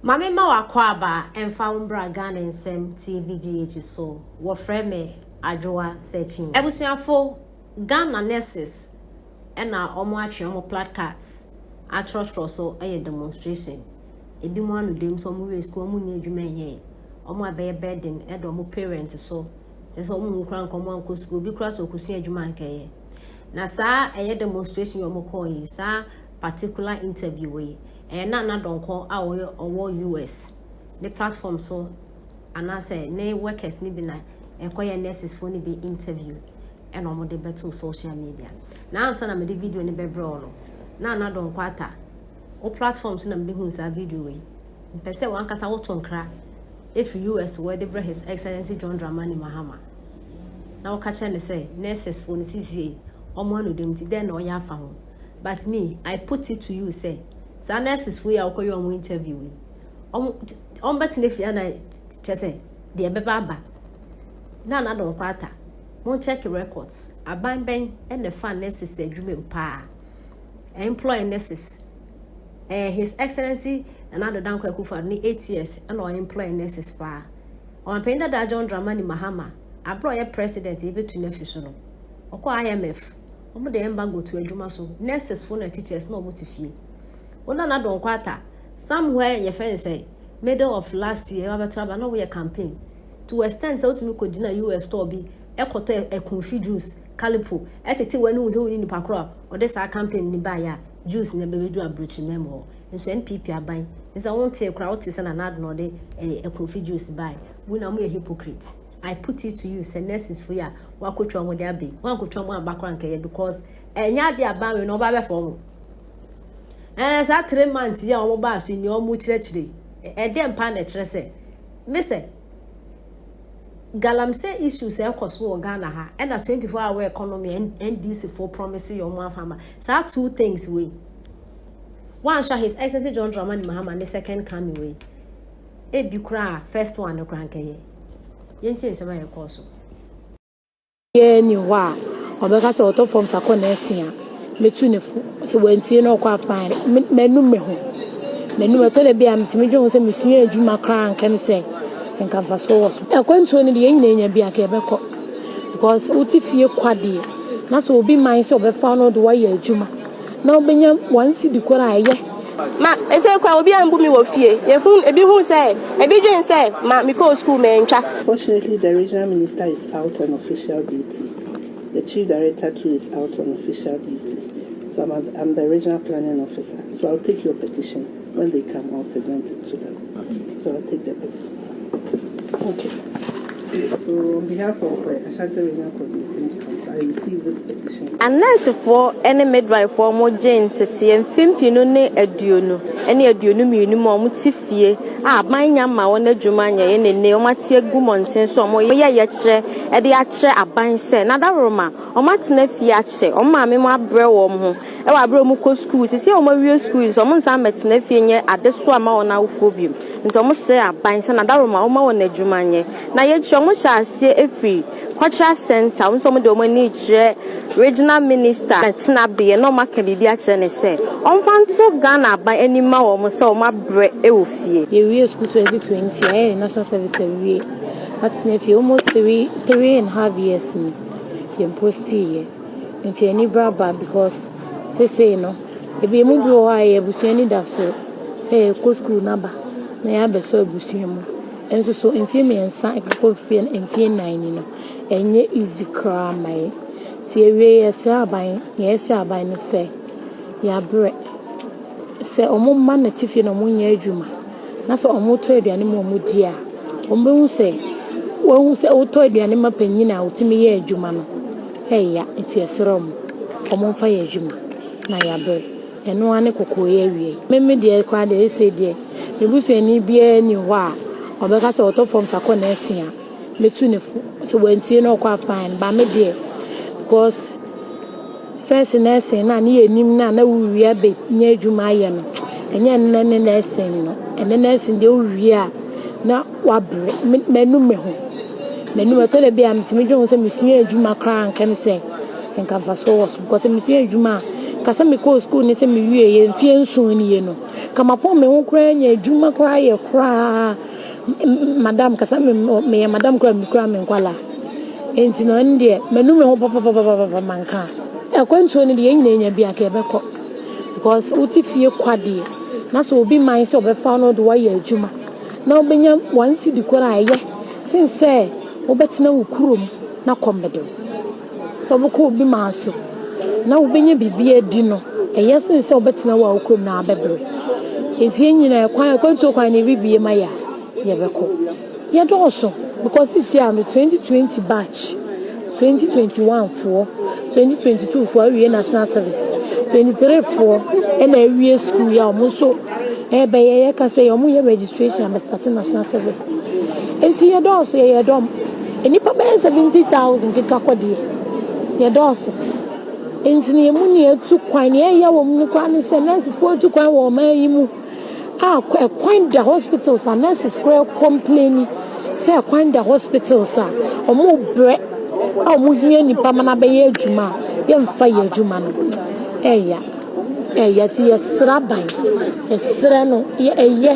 Ma me mma w'akwaaba mfa wo mbra Ghana nsɛm TVGH so, wɔfrɛ me Adwoa Searching. Abusuafo, Ghana nurses na wɔn atwe wɔn plat cards akyerɛkyerɛ so yɛ demonstration. Ebinom anodam nso wɔn wiee sukuu wɔn nnya adwuma nyɛe. Wɔn a ɛbɛyɛ burden da wɔn parents so, kyerɛ sɛ wɔn kura nka wɔn ankɔ sukuu, obi kura sɛ ɔkɔsua adwuma ankɛyɛ. Na saa ɛyɛ demonstration yi wɔn kɔɔ yi, saa particular interview yi, Ɛyɛ Nana Donkor a ɔyɛ ɔwɔ US ne platform so anaasɛ ne workers no bi na ɛkɔyɛ nurses foɔ no bi interview ɛna wɔn de bɛto social media. Na ansa na mede video no bɛbrɛ wo no, na Nana Donkor ata wo platform so na mede hu saa video wei. Mpɛ sɛ wankasa woto nkra ɛfiri US wɔ de brɛ His Excellency John Dramani Mahama na woka kyerɛ no sɛ nurses foɔ no sisiei wɔn anodam nti dɛn na ɔyɛ afa ho. But me I put it to you sɛ saa nurses foɔ yi a wokɔyɛ wɔn interview yi wɔn bɛtena fie ana kyɛ sɛ deɛ ɛbɛba aba na ana de wɔn kɔ ata mo check records aban bɛn ɛna ɛfa nurses adwuma mu paa employ nurses eh, his excellency nana ado danko akufo ne eight years ɛna ɔyɛ employ nurses paa ɔmapanyin dada john dramani mahama abere ɔyɛ president yɛbɛtu no afi so no ɔkɔ imf Wɔn de embargo to adwuma so. Nurses fo na teachers na wɔn te fie. Wo nana Donkor Atta, somewhere yɛfrɛ no sɛ middle of last year ɛba bɛto aba na woyɛ campaign to extent sɛ wotumi kɔ gyina US store bi ɛkɔtɔ ɛkunfi juice, kalipo, ɛtete w'ani hu sɛ wonni nipa koro a ɔde saa campaign ni baayɛ a juice na ɛbɛbɛdu aburokyiri mɛm hɔ. Nso NPP aban, ɛsɛ sɛ wontee koraa, wotee sɛ nana Addo na ɔde ɛkunfi juice baayɛ. Wo nyinaa mo yɛ hypocrite. I put it to you sɛ nurses fo yi a wɔakɔtwa wɔn de aba yi, wɔankɔtwa wɔn aba koraa nkɛyɛ because ɛnyɛ adeɛ a ban wei na wɔba abɛfa wɔn. Ɛɛ saa three months yi a wɔn baa so yi nea wɔn kyerɛkyerɛ yi, ɛdeɛ mpa na ɛkyerɛ sɛ me sɛ galamsey issues a ɛkɔ so wɔ Ghana ha ɛna 24 hour economy a NDC fo promise yɛ wɔn afa ama saa two things wei wɔanhwɛ his excellency John Dramani Mahama ne second coming wei ebi koraa first one no koraa nkɛyɛ. yɛntie nsɛm a ɛkɔɔ so. Obiara nni hɔ a ɔbɛka sɛ ɔtɔ fam sakɔ na asi a metu no fo. Sɛ wantie na ɔkɔ a fine. M'anum me ho. M'anum ɛtɔ da bi a metumi dwen ho sɛ mesua adwuma koraa anka me sɛ nka mfasoɔ wɔ so. Akwantuo no deɛ yɛn nyinaa nya bi anka yɛbɛkɔ because wote fie kwa deɛ na sɛ obi mae sɛ ɔbɛfa wo na ɔde wo ayɛ adwuma. na wobenya wɔn sidi koro a ɛyɛ. Ma ɛsɛ koraa obiara mbu me wɔ fie. Yɛhu, ebi hu sɛ, ebi dwen sɛ ma mekɔɔ sukuu mantwa. Fortunately the regional minister is out on official duty, the chief director too is out on official duty, so I'm the regional planning officer, so I'll take your petition. When they come I'll present it to them so I'll take the pictures okay so on behalf of the Ashanti regional coordinating council I receive this petition. Anursefoɔ ne midwifoɔ a wɔgye nteteɛ mfempinu ne aduonu ne aduonu mmienu mu a wɔte fie a aban nya ma wɔn adwuma nyɛ yɛ ne nne wɔate agu mmɔnten so wɔyɛ yɛkyerɛ de akyerɛ aban sɛ n'adaworoma wɔatena fie akyɛ wɔn maame mu abrɛ wɔn ho wɔ aber a wɔkɔ skuul. Sesei a wɔawie skuul yi so, wɔnnsan mmbɛtsena fie nnyɛ adesoa mma hɔn awofoɔ bio. Ntsi wɔsrɛ aban sɛ n'adawoma wɔmma hɔn edwuma nyɛ. Na iyi ekyir wɔhyɛ aseɛ efi Cultural Centre, hɔn so wɔdze hɔn enyi rekyerɛ Regional Minister ne tsenabea na wɔakã biribi akyerɛ no sɛ ɔmfa nto Ghana aban enyim mma hɔn sɛ wɔabrɛ wɔ fie. Yewiee skuul twenty twenty a yɛyɛ national service awie atsena fie almost three three and half years no yɛmpostii yɛn. Nti ani bere aba because sesei no ebi emu bi wɔ hɔ a ɛyɛ abusua anidaso sɛ yɛkɔ sukuu no aba na yɛabɛsɔ abusua mu. Nso so mfeɛ mmiɛnsa ɛkekɔ mfeɛ nnan ni no ɛnyɛ easy koraa ma yɛn. Nti awiei yɛsrɛ aban, nea yɛsrɛ aban ne sɛ yɛabrɛ. Sɛ wɔma no te fie na wɔnyɛ adwuma na sɛ wɔtɔ aduane ma wɔn di a, wɔbɛhu sɛ wɔhu sɛ wotɔ aduane ma panyin a wotumi yɛ adwuma no ɛya nti ɛsrɛ wɔn wɔn mfa yɛ adwuma na yɛabere ɛno ara ne kɔkɔɔ yɛ awie. Meme deɛ koraa deɛ ɛsɛ deɛ me busuani biara ni hɔ a ɔbɛka sɛ ɔtɔ fam sakɔ na asia metu ne fo sɛ wantie na ɔkɔ afan ba me deɛ because First nursing na ne yɛ nim na na wowie abɛnya adwuma ayɛ no ɛnyɛ nnɛ ne nursing no ɛnɛ nursing deɛ wowie a na wabrɛ m'anu me ho m'anum ɛtɔ da bi a metumi dwe ho sɛ mesua adwuma koraa nkɛm sɛ nka mfasoɔ wɔ so because mesua adwuma a ka sɛ mekɔɔ sukuu ne sɛ mewie yɛ mfeɛ nson nie no ka mapɔn me ho koraa nya adwuma koraa yɛ koraa madam kasa meyɛ madam kora mekura me nkwala nti na ɛno deɛ manu me ho papapapapa manka akwantuo no deɛ yɛn nyinaa nya bi a ka ɛbɛkɔ because wote fie kwa deɛ na sɛ obi man sɛ ɔbɛfa no de wayɛ adwuma na wobɛnya wɔn si di kora a ɛyɛ sen sɛ wobɛtena wo kurom na kɔmmɛdɛm Sɛ wobɛkɔ obi man so na wobɛnya biribi adi no, ɛyɛ sen sɛ wobɛtena wo a wo kurom na abɛbrɛ. Enti yɛn nyinaa kwan akwantuo kwan na ɛrebie ma yɛ a, yɛbɛkɔ. Yɛdɔɔso because sisi a no 2020 batch, 2021 foɔ, 2022 foɔ awie national service, 23 foɔ ɛna awie school yɛ a wɔn nso ɛbɛyɛ yɛka sɛ wɔn yɛ registration abɛstate national service. Enti yɛdɔɔso yɛyɛ dɔm. Nnipa bɛyɛ 70,000 keka kɔ deɛ. Yɛdɔɔso. Enti no yɛn mu nea atu kwan, nea ɛyɛ wɔn no koraa ne sɛ nɛɛsefoɔ atu kwan wɔ ɔman yi mu a ɛkwan da hospitals a nurses koraa kɔmpleni sɛ ɛkwan da hospitals a wɔbrɛ a wɔhia nnipa ma no abɛyɛ adwuma a yɛmfa yɛ adwuma no. Ɛya. Ɛya ti yɛsra ban. Yɛsrɛ no yɛ ɛyɛ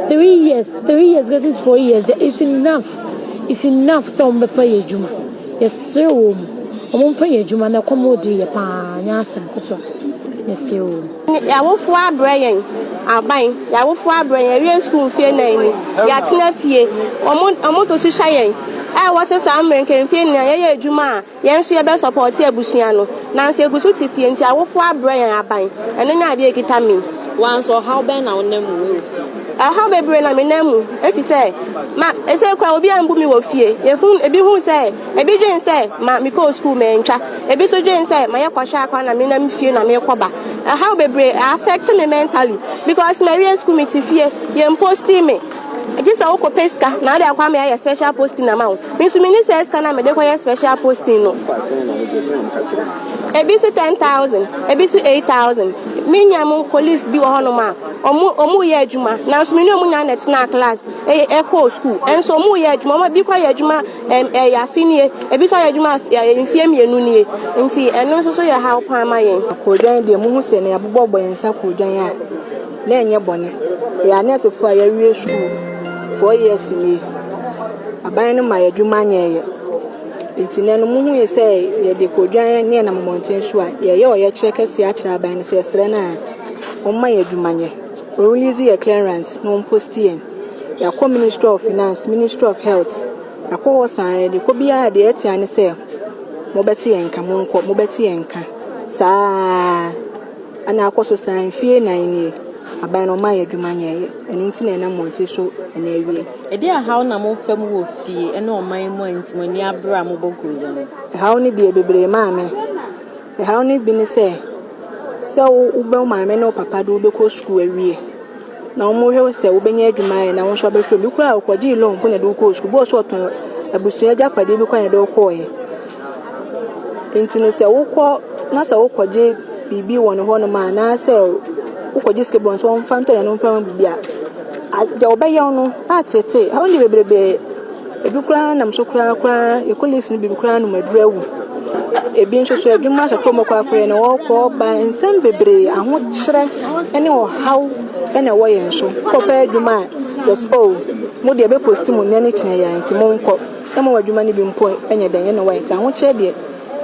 three years, three years getting to four years, there is enough. It's enough sɛ wɔn bɛfa yɛ adwuma. Yɛsrɛ wɔn mu. Wɔn mfa yɛ adwuma na ɛkɔm ɔdiri yɛ paa nyɛ asɛm ketewa. Yɛsrɛ wɔn mu. Y'awofoɔ abrɛ yɛn aban. Y'awofoɔ abrɛ yɛn. Yɛawie sukuu mfie nan ni. Y'atena fie. Wɔn wɔn to so hyɛ yɛn. Ɛwɔ sɛ saa mmerɛ nka mfie nan yɛyɛ adwuma a. Yɛn nso yɛbɛ sɔpɔte abusua no. Nanso yɛgu so te fie nti awofoɔ abrɛ yɛn aban. Ɛno ne adeɛ a ɛkita me. Wo ara nso ɔhaw bɛn na wonam mu wɔ fie? Ɔhaw bebree na menam mu efisɛ ma ɛsei koraa obiara mbu me wɔ fie. Yɛhu ebi hu sɛ ebi dwen sɛ ma mekɔɔ sukuu mantwa. Ebi nso dwen sɛ ma yɛkɔhwɛ akoa na menam fie na mekɔ ba. Ɛhaw bebree ɛ affect me mentally because mawie sukuu mete fie. Yɛn posti me. Gye sɛ wo kɔ pɛ sika na ade akɔ ama yɛayɛ special posting ama wo. Me nso menni saa sika no a mede kɔ yɛ special posting no. Ebi se ten thousand, ebi so eight thousand. Me nua mo colleagues bi wɔ hɔ nom a, ɔmo ɔmo reyɛ adwuma. Nanso me ne ɔmo nyinaa na ɛtenaa class ɛyɛ ɛkɔɔ school. Ɛnso ɔmo reyɛ adwuma. Ɔmo ebi kɔ ayɛ adwuma ɛm ɛyɛ afe nie, ebi nso ayɛ adwuma afe ɛyɛ mfie mmienu nie. Nti ɛno nso so yɛ haw paa ma yɛn. Koredwane deɛ mohu sɛ na yɛabobɔbɔ yɛn nsa koredwane a. Na ɛnyɛ bɔne. Yɛyɛ anɛɛsefo a yɛawie sukuu four years nie. Aban no ma yɛn adwuma nyɛ yɛ. Nti nnɛ no muhui sɛ yɛde kodwan ne yɛnam mmɔnten so a, yɛyɛ ɔyɛkyerɛ kɛseɛ akyerɛ aban no sɛ yɛsrɛ no a ɔmma yɛn adwuma nyɛ. Ɔrelease yɛn clearance na ɔmposti yɛn. Yɛakɔ Ministry of Finance, Ministry of Health, yɛakɔ hɔ saa ara. Yɛde kɔ biara deɛ ɛtea ne sɛ mobɛte yɛn nka, monkɔ, mobɛte yɛn nka. Saa ara. Ɛna akɔ so saa mfie nnan nie. Aban no ɔmaa yɛ adwuma nyɛeɛ. Ɛno nti na ɛnam wɔn tiri so ɛna awie. Ɛdeɛn ahaw na mo fa mu wɔ fie ɛne ɔman mu a nti mo ani abere a mobɔ guruza no? Ɛhaw no deɛ bebree maa me. Ɛhaw no bi ne sɛ, sɛ wo bɛ wo maame ne wo papa de wo bɛkɔ sukuu awie. na wɔhwɛ wo sɛ wobɛnya adwuma ayɛ na wo nso abɛhwɛ obi koraa a ɔkɔgyee loan mpo na ɛde wokɔɔ sukuu bɔɔ so ɔtɔn abusua agyapadeɛ bi koraa na ɛde wokɔɔeɛ nti no sɛ wokɔ na sɛ wokɔgye biribi wɔ ne hɔnom a anaasɛ wokɔgye sika bi wɔ no sɛ ɔmfa ntɔ na no mfa biribi a deɛ wɔbɛyɛ wo no atetee ɛho ne bebrebe Ebi koraa nam so koraa koraa yɛ kɔleefo no bi koraa nom aduru awu. Ebi nso so adwuma kɛkɛ wɔkɔ akɔyɛ na wɔkɔ ba nsɛm bebree ahokyerɛ ne ɔhaw na ɛwɔ yɛn so. Wokɔpɛ adwuma a yɛse oh mo deɛ bɛ post mo nnɛ ne kyena yi ara nti mo nkɔ. Ɛma w'adwuma no bi mpo nyɛ dɛn ɛna wayɛ nti ahokyerɛ deɛ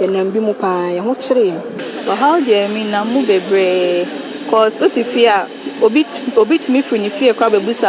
yɛnam bi mu paa yɛho kyere yɛn. Ɔhaw deɛ menam mu bebree cause wote fie a. Obi obi tumi firi ne fie kɔ abɛbisa.